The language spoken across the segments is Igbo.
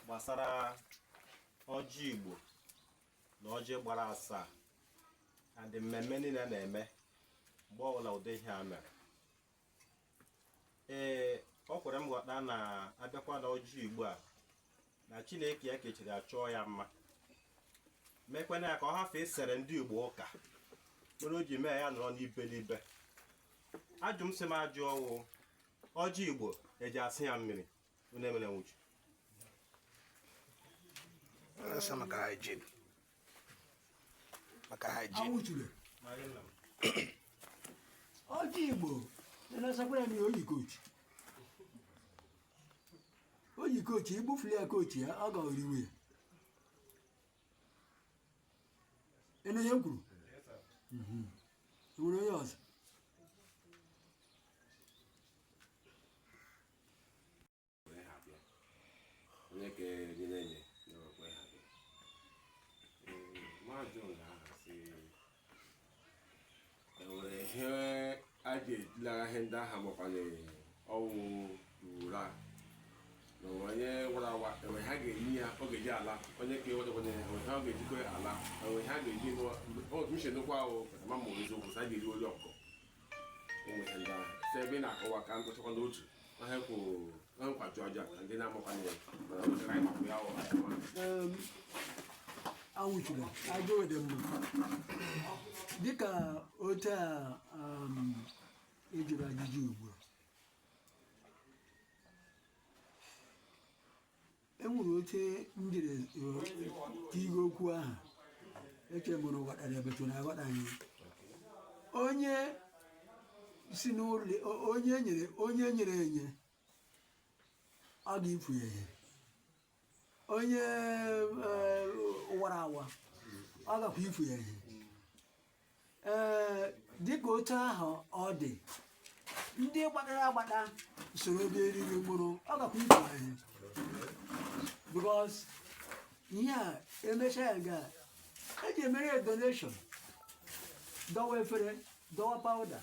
gbasara ọjị Igbo na ọjị gbara asaa adị mmemme niile na-eme mgbe ọbụla ụdị ihe a mere ee ọ kwere m ghọta na abịakwa na ọjị Igbo a na Chineke ya kechiri achọọ ya mma mekwena ya ka ọ hafee isere ndị Igbo ụka mere o ji mee ya nọrọ n'ibe n'ibe ajụ m sị m ajụ ọ wụ ọjị Igbo e ji asa ya mmiri maka hygiene ọjị igbo na-esakwara m ya oyi kochi oyi kochi igbufuli ya kochi ya ọ gaghị iwe ya ị nụ ihe m kwuru mhm. nwere onye ọzọ ihe ndị aha makwanye ọnwụ ura na onye wara awa enwe ha ga-enye ya ọ ga-eji ala onye ka ewetakwana ya enwe ha ọ ga-ejikọ ala enwe ha ga-eji otu uche nụkwa ahụ ma ma eziokwu sị a ga-eri olu ọkụkọ ebe ị na-akọwa ka m gụchakwa n'otu ihe kwuru na nkwaju aja ka ndị na-amakwa na ya awụchiri aja ode mma dịka otu a ejiri ajụjụ ugbu a e nwere otu m jiri tigo okwu ahụ eche m unu ghọtara ebetu na aghọta anyị onye si n'ụlọ onye nyere onye nyere enye ọ ga-efu ya ihe onye wara awa ọ gakwa ifu ya ihe ee dịka otu ahụ ọ dị ndị gbadara agbada soro dị eriri mkpụrụ ọ gakwa ifu ha ihe because ihe a emecha ya ga eji emere ya donation dọwa efere dọwa powder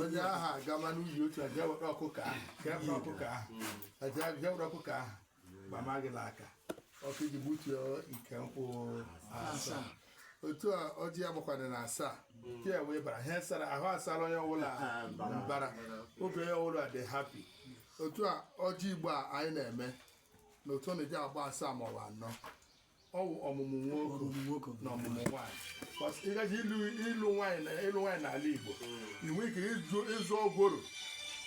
onye ahụ agama n'uyi otu a jee were ọkụkọ ahụ jee were ọkụkọ ahụ jee jee were ọkụkọ ahụ gbama gị n'aka ọkụ iji gbutuo ike nkwụ asaa otu a ọjị ya gbakwana na asaa nke ya wee bara ihe sara ahụ asara onye ọbụla mbara obi onye ọbụla dị happy otu a ọjị igbo a anyị na-eme na otu ọ na-eji agba asaa maọbụ anọ ọ wụ ọmụmụ nwoke na ọmụmụ nwaanyị but ị gaje ịlụ nwaanyị na ịlụ nwaanyị n'ala Igbo hmm. inwe ike ịzụ gworo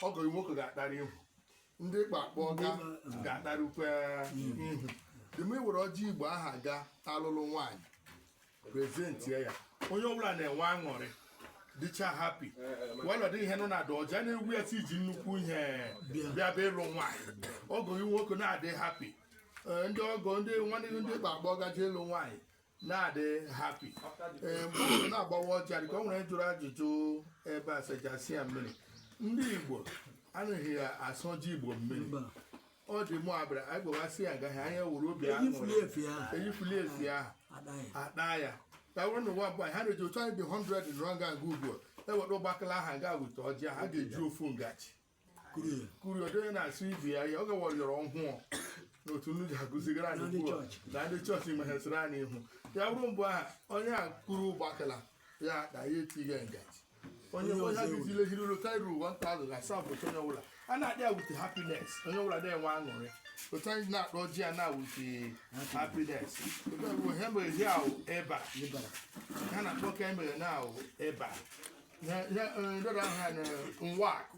ọgọ nwoke ga-agbarụ ihu ndị ị ga-akpọ ga ga-agbarụkwa ihu then i were ọjị Igbo ahụ ga alụlụ nwaanyị presentie ya onye ọbụla na-enwe aṅụrị dịcha happy while ọ dị ihe nọ na ada ọjị a na-egosi iji nnukwu ihe bịa bịa ịlụ nwaanyị ọgọ gị nwoke na-adị happy Ee, ndị ọgọ ndị nwanne gị ndị gbagba gaje ịlụ nwaanyị na-adị happy Ee, mgbe ọ na-agbawa ọjị a dịka o nwere jụrụ ajụjụ ebe a sị a ja-asa ya mmiri ndị igbo anaghị asa ọjị igbo mmiri ọ dị mụ abịara anyị gbawasị ya agaghị anya wuru obi ahụ eyifuli efi ahụ eyifuli efi ahụ adaghị akpa ya ka wụrụ n'ụwa bụ anyị ha na-eji otu anyị dị 100 nọrọ nga nga ugbu a eweta ụgbakala ahụ nga weta ọjị ha ga-eji ofu ngaji kuru ya kuri ọ dị onye na-asọ ibe ya ya oge wọrịọrọ ọhụụ n'otu ngaji agụzigara anyị Na ndị ugbu a chọọchị. na ndị chọọchị meghesịrị anyị ihu ya bụrụ mbụ ahụ onye a kuru ụgbakala ya na ya etighị ngaji onye ọzọ ya gị ile hiri lota iru 1000 asaa bụ onye ọbụla a na-adị with happiness onye ọbụla na-enwe aṅụrị otu anyị na-akpọ ọjị a na-ewute happiness otu anyị bụ ihe mere ihe ahụ ebe a ha na-akpọ ka emere na ahụ ebe a ndọrọ ahụ ha na nwa akụ